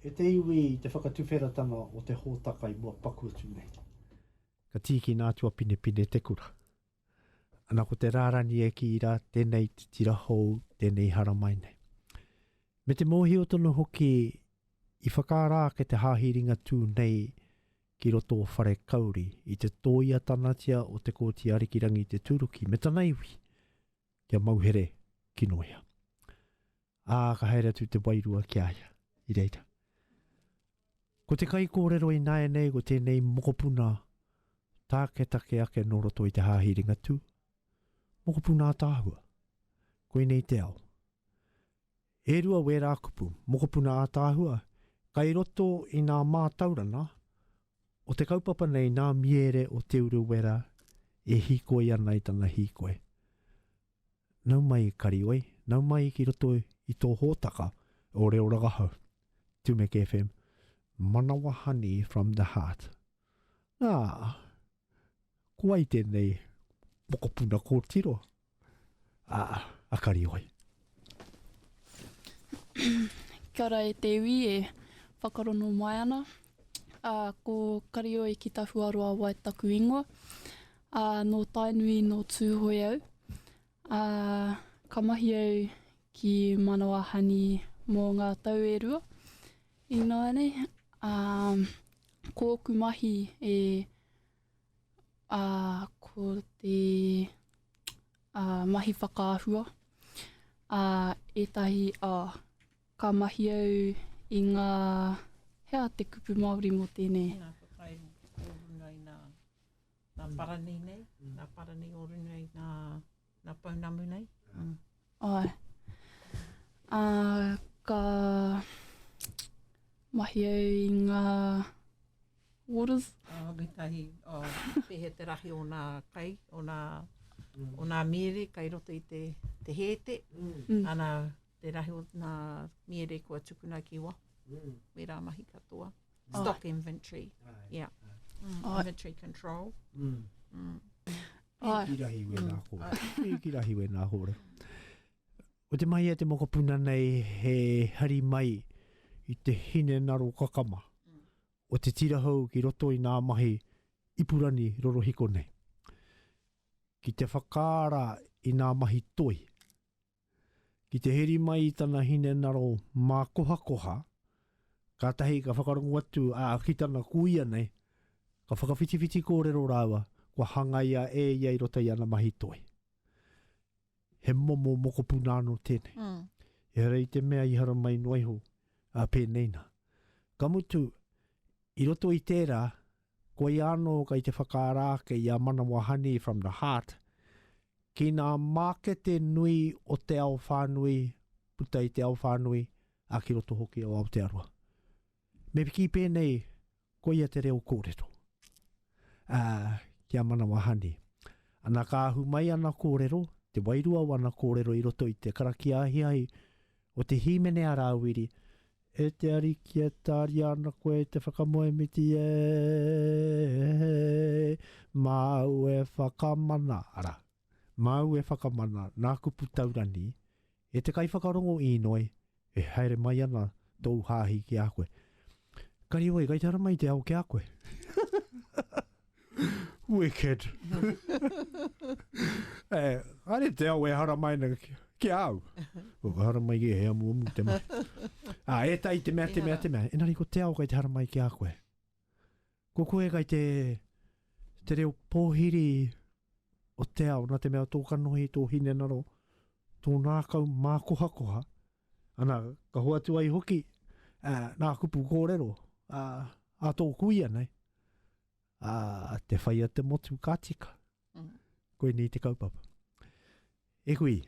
E te iwi i te whakatuwheratanga o te hōtaka i mua paku atu nei. Ka tīkina atu a Pinepine te kura. Ana ko te rārani e kī rā, tēnei te tira hou, tēnei i haramai nei. Me te mōhio tonu hoki i whakaara ake te hāhi Ringatū nei ki roto o Wharekauri i te tōia tanatia o Te Kooti Arikirangi Te Tūruki me tana iwi kia mauhere ki Noea. Ā, ka haere atu te wairua ki a ia, i reira. Ko te kaikōrero ināianei ko tēnei mokopuna tāketake ake nō roto i te Hāhi Ringatū, mokopuna ātaahua. Koinei te ao. E rua wērā kupu, mokopuna ātaahua, kai roto i nā mātaurana o te kaupapa nei nā miere o Te Urewera e hīkoi ana i tana hīkoi. Nau mai i Karioi, nau mai ki roto i tō hōtaka o Reo Rangahau, Tumeke FM, Manawa Honey from the Heart. Nā, ko ai tēnei mokopuna kōtiro a, a Karioi. Kia ora e te iwi e whakarono mai ana. Uh, ko Karioi ki Tahuaroa wai taku ingoa. A, nō Tainui, nō Tūhoe au. A, ka mahi au ki Manawahani mō ngā tau e rua. Ināianei, a, ko ōku mahi e, a, ko te, a, mahi whakaahua. A, ētahi, a, ka mahi au i ngā, hea te kupu Māori mō tēnei? Tēnā, ka kai kōrunga i nā. Nā Parani nei, nā Parani o Runu nei, nā, nā Pounamu nei. Mm. Ai. Uh, ka mahi au i ngā waters. Oh, me tahi, oh, pehe te rahi o nā kai, o nā, mm. o nā miere kai roto i te, te hēte. Mm. Ana, te rahi o nā miere kua tukuna ki wa. Mm. Me rā mahi katoa. Oh. Stock oh. inventory. Yeah. Mm. Oh. Inventory control. Mm. Mm. Oh. Ki rahi we nā kōre. Mm. Ki rahi we nā kōre. O te mai e te mokopuna nei he hari mai i te hine naro kakama mm. o te tirahou ki roto i nā mahi ipurani rorohiko nei. Ki te whakaara i nā mahi toi Ki te heri mai i tana hinengaro mākohakoha, kātahi ka whakarongo atu, ā, ki tana kūia nei, ka whakawhitiwhiti kōrero rāua, kua hangaia e ia i roto i ana mahi toi. He momo mokopuna anō tēnei. Mm. Ehara i te mea i haramai noa iho, ā, pēnei nā. Ka mutu, i roto i tērā, Koia anō kei te whakaara ake i a Manawa Honey from the Heart ki ngā mākete nui o te ao whānui, puta i te ao whānui, ā, ki roto hoki o Aotearoa. Me piki pēnei, koia te reo kōrero, ā, ki a Manawa Honey. Ana ka ahu mai ana kōrero, te wairua o ana kōrero i roto i te karakia ahiahi o te hīmene a Rāwiri, E te Ariki e tāria ana koe e te whakamoemiti e māu e whakamana, arā, māu e whakamana nā kupu taurani, e te kaiwhakarongo īnoi, e haere mai ana tōu hāhi ki a koe. Kare wai, kai te ara mai te ao ki a koe. Wicked. e, are te au e haramai na ki, ki au. Ko ka haramai ki he amu amu te mai. A, e tai te mea, te mea, te mea. E nari ko te au kai te haramai ki a koe. Ko koe kai te, te reo pōhiri o te au, na te mea tō kanohi, tō hinenaro, tō nākau mākohakoha, Ana, ka hoatu ai hoki ā, nā kupu kōrero ā, ā tō kuia nei, ā, te whaia te motu ka tika. Mm. Koinei te kaupapa. E hui,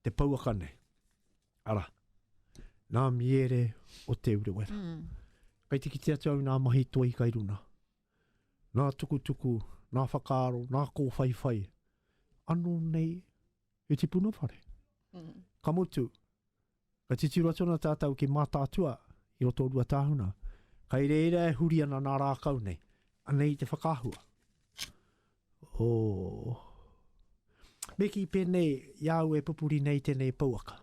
te pouaka nei. Ara, nā miere o te urewera. Mm. Kai te kite atu au nā mahi toi kai runa. Nā tukutuku, nā whakaaro, nā kōwhaiwhai. Ano nei, i tipuna whare. Mm. Ka mutu, ka titiro atu ana tātou ki Mātātua i roto o Ruatāhuna. Kai reira e huri ana nā rākau nei. Anei te whakahua. Oh. Me ki pēnei, i au e pupuri nei tēnei pouaka.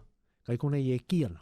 Kai konei e ki ana.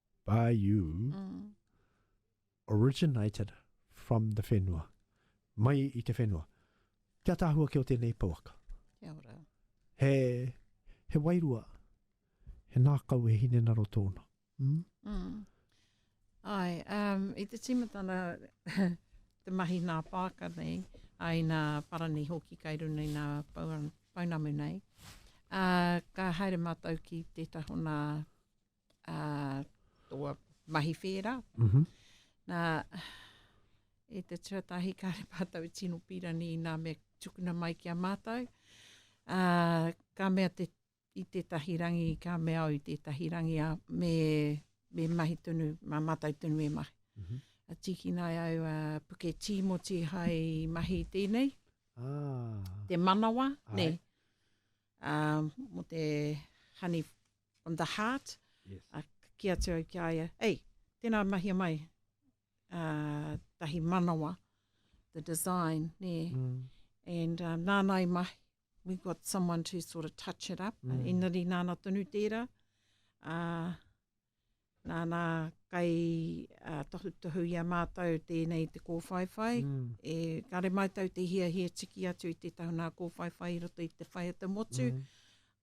by you, mm. originated from the whenua. Mai i te whenua. Kia tahua ki o tēnei pouaka. Kia ora. He, he wairua, he nākau e hine naro tōna. Mm? Mm. Ai, um, i te tīmatana te mahi nā pāka nei, ai nā parani hoki kai runa i nā paunamu nei, uh, ka haere mātou ki te tahona uh, tō mahi whērā. Mm -hmm. Nā, e te tuatahi kāre mātou tino pīrani i nā mea tukuna mai ki a mātou. Uh, ka mea te, i tētahi rangi, ka mea au i tētahi rangi a me, me mahi tonu, mā mātou tonu e mahi. Mm -hmm. A tīkina ai au a uh, puke tīmoti hai mahi tēnei. Ah. Te manawa, Ai. nei. Uh, mo te honey from the heart, yes. uh, ki atu au ki a ia, ei, tēnā mahia mai, uh, tahi manawa, the design, nē, mm. and uh, nāna i mahi, we got someone to sort of touch it up, mm. engari nāna tonu tērā, uh, Nāna kei tohutohu i a mātou tēnei te kōwhaiwhai, mm. e kare mātou te hiahia tiki atu i te tahuna kōwhaiwhai i roto i te whai o te motu, mm.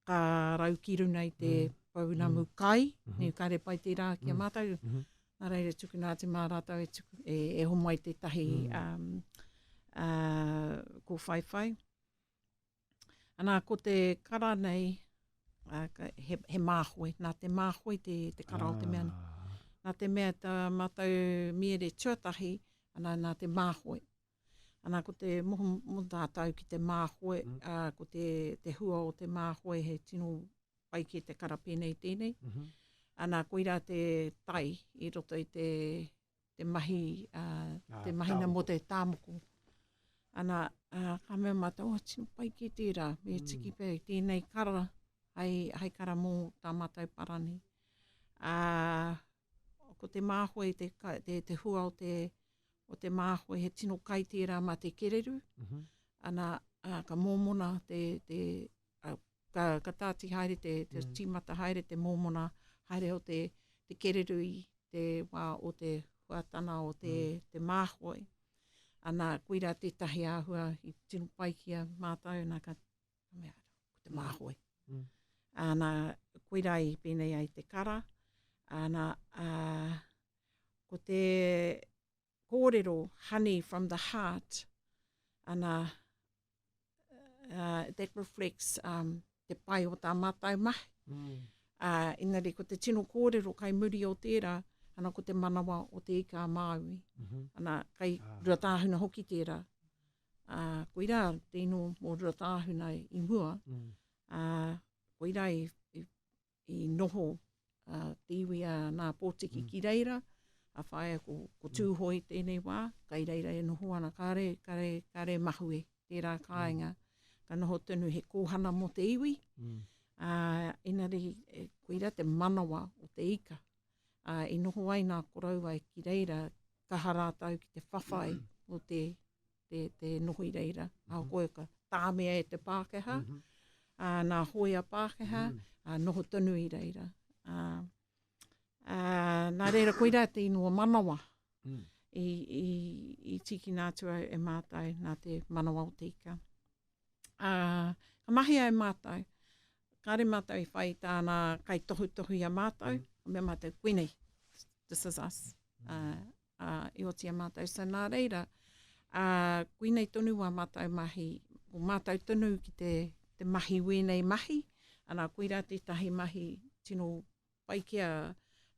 ka rau ki runa i te mm. pounamu mm. kai, mm -hmm. kare pai te rā ki a mm. mātou, mm -hmm. nā reira tukuna atu mā rātou e, tuku, e, e homo ai tētahi mm. um, uh, kōwhaiwhai. Ana, ko te kara nei, he, he māhoe, nā te māhoe te, te kara ah. o te mea. Ah. Nā te mea tā mātou miere tuatahi, ana, nā te māhoe. Ana, ko te moho mo tātou ki te māhoe, mm. a, ah, ko te, te hua o te māhoe he tino pai ki te kara pēnei tēnei. Mm -hmm. Ana, koirā te tai i roto i te, te mahi, uh, ah, te mahina tāmoko. mō te tāmoko. Ana, uh, ka mea mātou, oh, tino pai ki tērā, me mm. tiki pē, tēnei kara, hai, hai kara mō tā mātou parani. Uh, ko te māhoe, te, te, te hua o te, o te māhoe, he tino kai tērā mā te kereru. Mm -hmm. Ana, uh, ka mōmona te, te, ka, ka tāti haere te, te mm. tīmata haere te mōmona, haere o te, te kereru i te wā o te huatana o te, mm. te māhoi. Ana, koira tētahi āhua i tino pai ki a mātou, nā ka, ka mea, ko te māhoi. Mm. Ana, koira i pēnei ai te kara, ana, a, ko te, kōrero honey from the heart ana uh, that reflects um, te pai o tā mātou mahi. Mm. Uh, engari, ko te tino kōrero kai muri o tērā, ana ko te manawa o te ika Māui. Mm -hmm. Ana, kai ah. Ruatāhuna hoki tērā. Uh, ko ira te ino mō Ruatāhuna i mua. Mm. Uh, ko ira i, i, i noho a te iwi a Nā Pōtiki mm. ki reira, a whaia ko, ko Tūhoe mm. tēnei wā, kai reira e noho ana, kare, kare, kare mahue, tērā mm. kāinga, mm. ka noho tonu he kōhana mō te iwi, mm. a, enari, e, koira te manawa o te ika, a, i noho ai nā korauai ki reira, ka harātau ki te whawhai mm. o te te, te noho i reira, mm -hmm. a koe ka tāmea e te Pākehā, mm -hmm. a, nā hoia Pākehā, mm -hmm. a, noho tonu i reira. A, a, nā reira, koira te inua manawa mm -hmm. i, i, i tīkina atu au e mātai nā te manawa o te ika. A, ka mahi ai mātai, kāre mātou i whai tāna kai tohu tohu i a mātou, mm -hmm. me mātou kuinei, this is us. Mm -hmm. uh, uh, i oti a mātou. So nā reira, uh, kuinei tonu wā mātou mahi, o mātou tonu ki te, te mahi wēnei mahi, anā, koirā tētahi mahi tino pai ki a,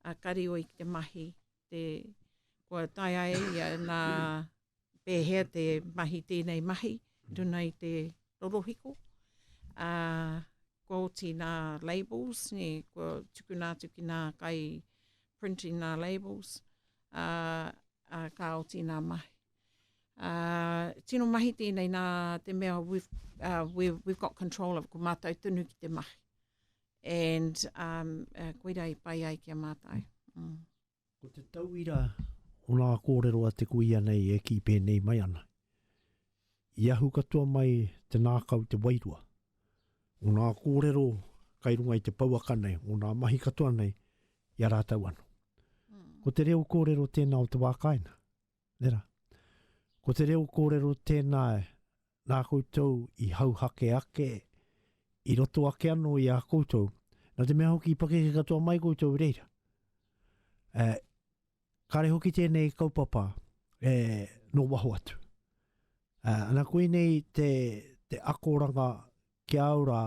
a Karioi ki te mahi, te, kua tae ai ia nā, pēhea te mahi tēnei mahi i runga i te rorohiko. Ā, kua oti nā labels, nē, kua tukuna atu ki nā kai printing nā labels, ā, ā, ka oti nā mahi. Ā, tino mahi tēnei nā te mea we've, ā, we've, we've got control of, ko mātou tonu ki te mahi. And, ā, koira i pai ai ki a mātou. Mm. Ko te tauira o ngā kōrero a te kuia nei e kī pēnei mai ana, I ahu katoa mai te nākau te wairua. Ngō ngā kōrero kai runga i te pouaka nei, ngō ngā mahi katoa nei, i a rātau anō. Ko te reo kōrero tēnā o te wā kāinga. Nera. Ko te reo kōrero tēnā nā koutou i hauhake ake, i roto ake anō i a koutou, nā te mea hoki i pakeke katoa mai koutou i reira. E, kare hoki tēnei kaupapa e, no waho atu. E, ana koe nei te, te akoranga ki au rā,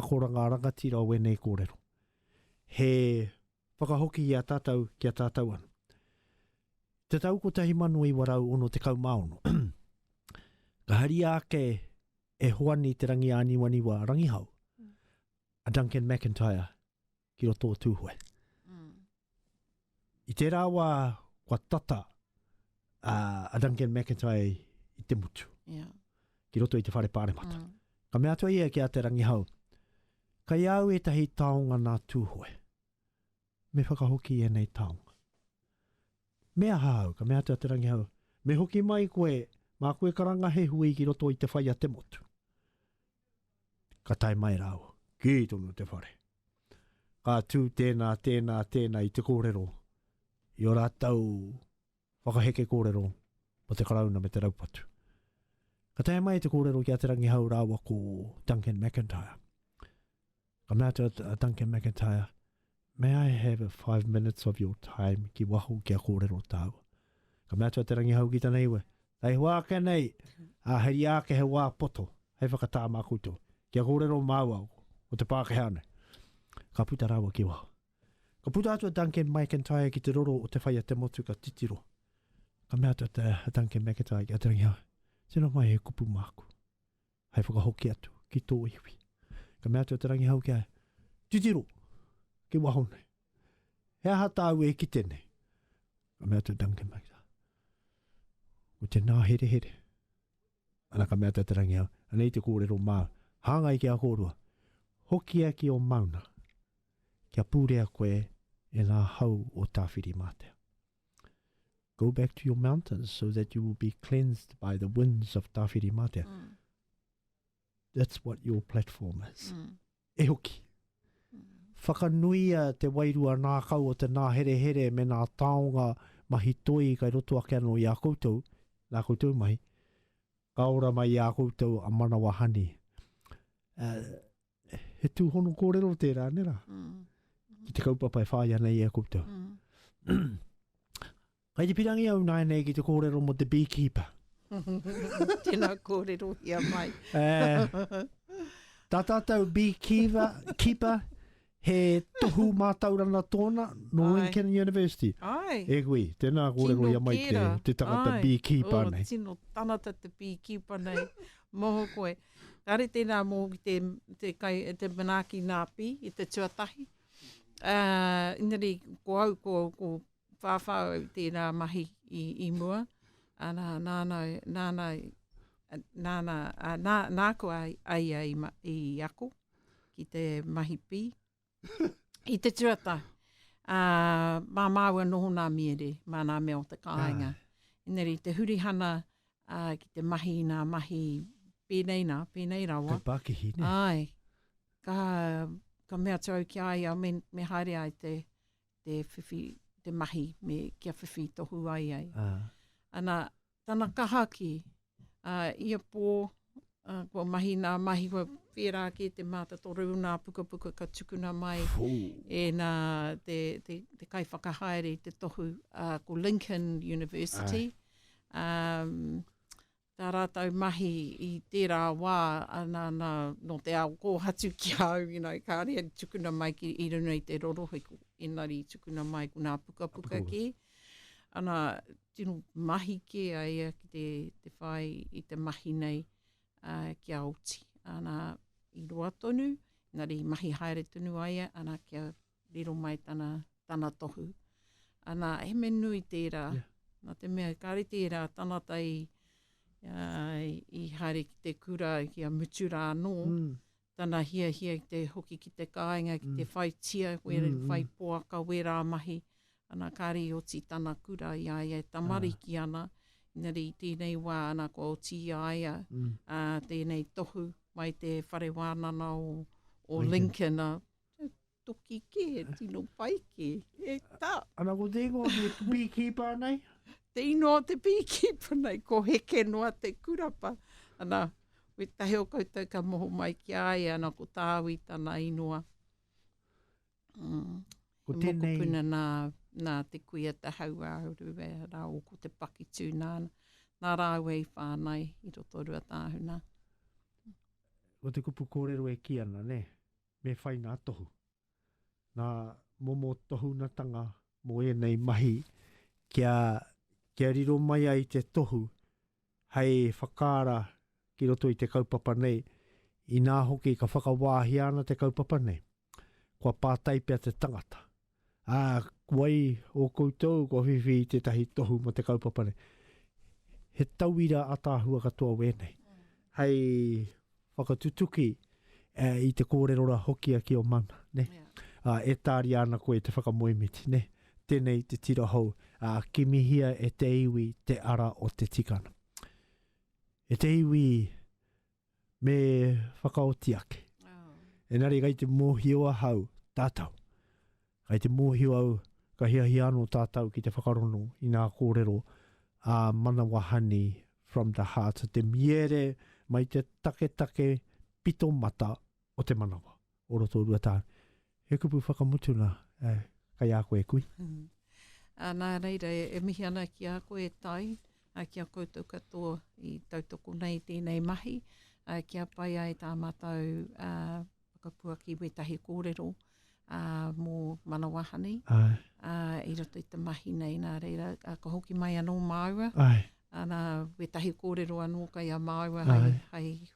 Akoranga rangatira o ēnei kōrero. He whakahoki i a tātou ki a tātou anō. I te tau 1966, ka haria ake e Hoani Te Rangiāniwaniwa Rangihau, a Duncan McIntyre, ki roto o Tūhoe. Mm. I tērā wā, kua tata a, a Duncan McIntyre i te mutu. Yeah. Ki roto i te whare pāremata. Mm. Ka mea atua ia ki a Te Rangihau, kai au ētahi taonga nā Tūhoe. Me whakahoki e nei taonga. Me aha au, ka mea atua Te Rangihau, me hoki mai koe, mā koe karanga he hui ki roto i te whai a te motu. Ka tae mai rāua, kī tonu te whare. Ka tū tēnā, tēnā, tēnā i te kōrero, i o rātou whakaheke kōrero mo te karauna me te raupatu. Ka tae mai te kōrero ki a Te Rangihau rāua ko Duncan McIntyre. Ka mea atu a Duncan McIntyre, May I have a five minutes of your time ki waho kia kōrero tāua? Ka mea atu a Te Rangihau ki tana iwi, Hei hoa ake nei, a heri ake he wā poto, hei whakatā mā koutou, kia kōrero māua o te Pākehā nei. Ka puta rāua ki waho. Ka puta atu a Duncan McIntyre ki te roro o te whai a te motu ka titiro. Ka mea atu a Duncan McIntyre ki a Te Rangihau, Tino mai he kupu māku. hei whakahoki atu ki tō iwi. Ka mea atu a Te Rangihau ki a titiro, ki waho nei. He aha tāu e kite nei? Ka mea atu Duncan Maida. Ko te nā here here. Ana ka mea atu Te Rangihau, anei te kōrero māu, hāngai ki a kōrua, hokia ki o mauna, kia pūrea koe e nā hau o Tāwhiri Mātea. go back to your mountains so that you will be cleansed by the winds of Tawhiri Matea. Mm. That's what your platform is. Mm. E hoki. Mm. Whakanuia te wairua nākau o te nāherehere me nā taonga mahi toi kai roto ake anō i a koutou, nā koutou mahi, ka ora mai i a koutou a manawa hani. Uh, he tūhono kōrero tērā, nē rā? Mm. Ki te kaupapa e whāia nei e a koutou. Mm. Kai te pirangi au nāi nei ki te kōrero mo te beekeeper. Tēnā kōrero hia mai. eh, tā tātou beekeeper, keeper, he tohu mātaurana tōna no Lincoln University. Ai. E hui, tēnā kōrero hia mai te, te tangata Ai. beekeeper oh, nei. Tino tanata te beekeeper nei. Moho koe. Kāre tēnā mō te, te, kai, te manaaki nāpī i te tuatahi. Uh, engari, ko au, ko, ko whāwhā au tēnā mahi i, i mua. Ana, nāna, nāna, nāna, nā, nāku ai, ai, ai i ako ki te mahi pī. I te tuata, uh, mā māua noho nā miere, mā nā mea o te kāinga. Ah. Ineri, te hurihana uh, ki te mahi nā mahi pēnei nā, pēnei rawa. Te pākihi, ne? Ai, ka, ka mea atu au ki ai, me, me haere ai te, te whiwhi, te mahi, me kia whiwhi tohu ai ai. Ah. Ana, Tana kaha ki, ā, ia pō, ā, kua mahi nā mahi, kua whērā kē te mātatoru o nā pukapuka ka tukuna mai e nā te, te, te kaiwhakahaere i te tohu, ā, ko Lincoln University. Um, tā rātou mahi i tērā wā, nā, nā, nō te ao kōhatu ki a au, you know, kāre tukuna mai ki, i runga i te rorohiko, engari tukuna mai ko nā pukapuka kē. Pukapuka. Ana, tino mahi kē a ia ki te, te whai i te mahi nei uh, ki a oti. Ana, i roa tonu, engari i mahi haere tonu a ia, ana, kia riro mai tana, tana tohu. Ana, he me nui tērā, yeah. nā te mea, kāre tērā tanata i, uh, i haere ki te kura ki a mutu rā anō, mm. tana hiahia i te hoki ki te kāinga, ki te mm. whai tia, where, mm, mm. whai poaka, wē rā mahi, ana kāre i oti tana kura i a ia e tamariki ah. ana, inari i tēnei wā ana kua oti i a ia mm. uh, tēnei tohu mai te whare wānana o, o Lincoln, Lincoln uh, toki kē, tino pai kē. E ta! Ana ko te ingoa ki te beekeeper nei? Te ingoa o te beekeeper nei, ko Heke noa te kurapa. Ana, we tahi o koutou ka moho mai ki a ia, ana ko Tāwi tana ingoa. Mm. Ko he tēnei... mokopuna nā, nā te kuia te hauāuru e rā o ko te pakitū nā, nā rāua i whānai i roto rua tāhuna. Ko te kupu kōrero e ki ana, ne? Me whai ngā tohu, ngā momo tohunatanga mō ēnei mahi kia, kia riro mai ai te tohu hei whakaara ki roto i te kaupapa nei, inā hoki ka whakawāhia ana te kaupapa nei, kua pātai pea te tangata. Ā, wai ō koutou kua whiwhi i tētahi tohu mō te kaupapa nei? He tauira ataahua katoa wēnei hei whakatutuki i te kōrero ra hokia ki o mana, ne? Ā, e tāria ana koe te whakamoemiti, ne? Tēnei te tira hou, ā, kimihia e te iwi te ara o te tikanga. E te iwi, me whakaoti ake. Oh. Enari kai te mōhio ahau tātou. Kai te mōhio au ka hiahia anō tātou ki te whakarono i ngā kōrero a Manawa Honey from the heart, te miere mai te taketake pito mata o te manawa. o Rotorua tāu. He kupu whakamutu nā, kei a koe e kui. Nā reira, e mihi ana ki a koe e Tai, ki a koutou katoa i tautoko nei i tēnei mahi, kia pai ai tā mātou whakapuaki wētahi kōrero mō Manawa Honey i roto i te mahi nei. Nā reira, ka hoki mai anō māua, ana wētahi kōrero anō kei a māua hai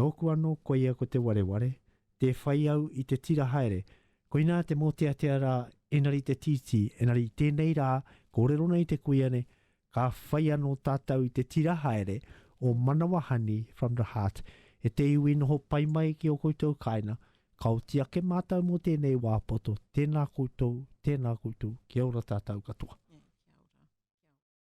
Nōku anō koia ko te wareware, tē whai au i te tira haere, koinā te mōteatea rā engari te tītī, engari i tēnei rā kōrero nei te kuia nei, ka whai anō tātou i te tira haere o Manawa Honey from the Heart, e te iwi noho pai mai ki ō koutou kāinga, ka oti ake mātou mō tēnei wā poto, tēnā koutou, tēnā koutou, kia ora tātou katoa.